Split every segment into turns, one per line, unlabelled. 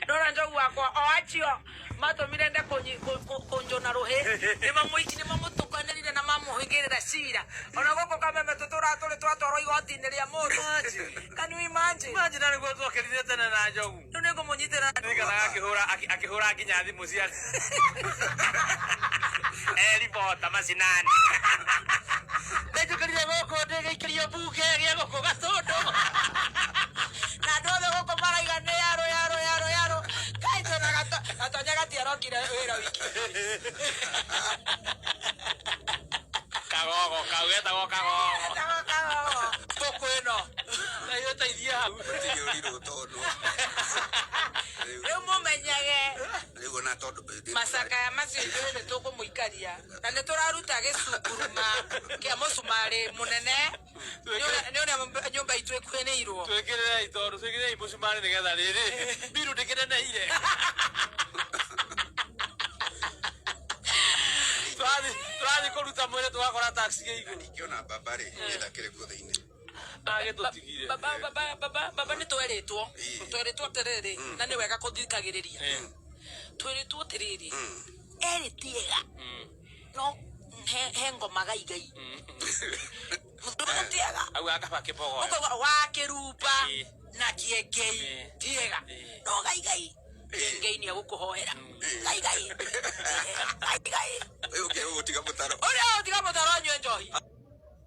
ndona njogu wakwa o acio matũmire nde kũnyi- kũ- kũ- kũnjũna rũhĩ nĩ mamũtukanĩrire na mamũhingĩrĩra cira ona gũkũ kameme tũtũraga tũrĩ twatwarwo igoti-inĩ rĩa mũndũ can you imagine Imagine arĩ guo twakerire
tene na njogu rĩu nĩ ngũmũnyitĩra
nĩgetha akĩhũra akĩ-
akĩhũra nginya thimũ cia eribota macinani ndenjũkĩrire gũkũ ndĩgĩikĩrio bu Kĩgeria gũkũ gatũndũ
na andũ othe gũkũ maraiga nĩ yarũ yarũ yarũ yarũ kai twĩna gato gatonya gatiarokire wĩra wiki
kagogo kau getagwo kagogo Kago, kago. ngũkũ
ĩno nayo
teithia hau Gũtirĩ ũrirũ tondũ.
Rĩu. rĩu mũmenyage rĩu ona tondũ macakaya macio ithuĩ nĩ tũkũmũikaria na nĩ tũraruta gĩcunguruma kĩa mũcumarĩ mũnene nĩ ũrĩa nyũmba itũ ĩkuhĩrĩirwo twĩkĩrĩrei tondũ
twĩkĩrĩrei mũcumarĩ nĩgetha rĩrĩ mbiru ndĩkĩneneire tũrathiĩ kũruta mwĩrĩ tũgakora taxi gĩ igũrũ ingĩona mbamba rĩ
ĩthakĩre kuo thĩinĩ agĩtũtigire
baba baba baba
baba nä twerĩtwo twerĩtwo atĩrĩrĩ na nä wega kå thikagä rä ria twĩrĩtwo atĩrĩrĩ erĩ tiega no he he ngoma gaigai tiega au akaba kibogoyo
ũkauga wa kĩrumba
Ĩĩ. na kĩengei Ĩĩ. tiega Ĩĩ. no gaigai kĩengei nĩ egũkũhoera gaigai Ĩĩ, gaigai
Ũyũ ũngĩ ũgũtiga mũtaro. ũrĩa ũtiga mũtaro
nyue njohi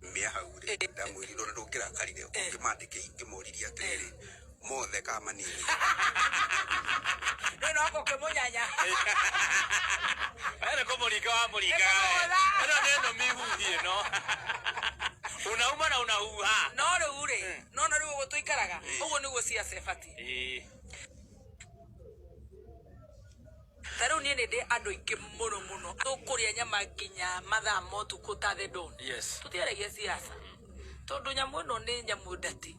Kiumia hau rĩ, ndamwĩrire ũrĩa ndũngĩrakarire ũngĩmandĩkĩire ingĩmoririe atĩrĩrĩ, mothe ka manini? Nĩ
noko ũkĩmũnyanya.
Wewe kumuringa wa muringa. Nĩkũmũhũtha. Ĩno nĩ ĩno mihuhi ĩno. Unauma na unahuha. No rĩu rĩ,
nona rĩu ũguo tũikaraga, ũguo nĩguo ciaca ĩbatiĩ. Ĩĩ. Ta rĩu niĩ nĩ ndĩ andũ aingĩ mũno mũno tũkũrĩa nyama nginya mathaa ma ũtukũ ta the dawn Yes. tũtiaragia siasa tondũ nyamũ ĩno nĩ nyamũ ndati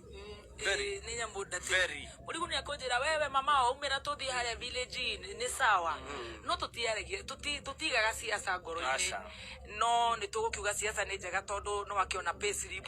Very. Ĩĩ, nĩ nyamũ ndati Very. mũrigu nĩ akũnjĩra wewe mama waumĩra tũthiĩ harĩa village nĩ sawa no tũtiaragia tũti- tũtigaga siasa ngoro-inĩ Aca. no nĩ tũgũkiuga siasa nĩ njega tondũ no akĩona payslip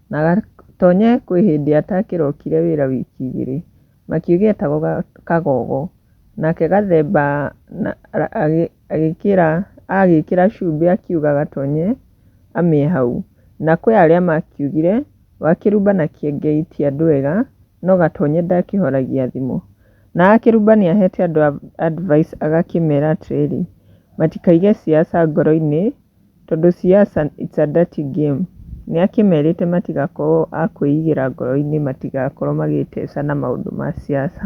Na gatony'e kwĩ hĩndĩ atakĩrokire wĩra wiki igĩrĩ, makĩũgetago kagogo, nake gathemba agĩkĩra agĩkĩra cumbĩ akiuga gatony'e amĩe hau. Na kwĩ arĩa makiugire, wakĩrumbana kĩengei ti andũ ega, no gatony'e ndakĩhoragia thimũ. Na akĩrumbani ahete andũ advice agakĩmera atĩrĩrĩ, matikaige ciaca ngoro-inĩ. Tondũ siasa it's a dirty game nĩ akĩmerĩte matigakorwo a kwĩigĩra ngoro-inĩ matigakorwo magĩĩteca na maũndũ ma siasa.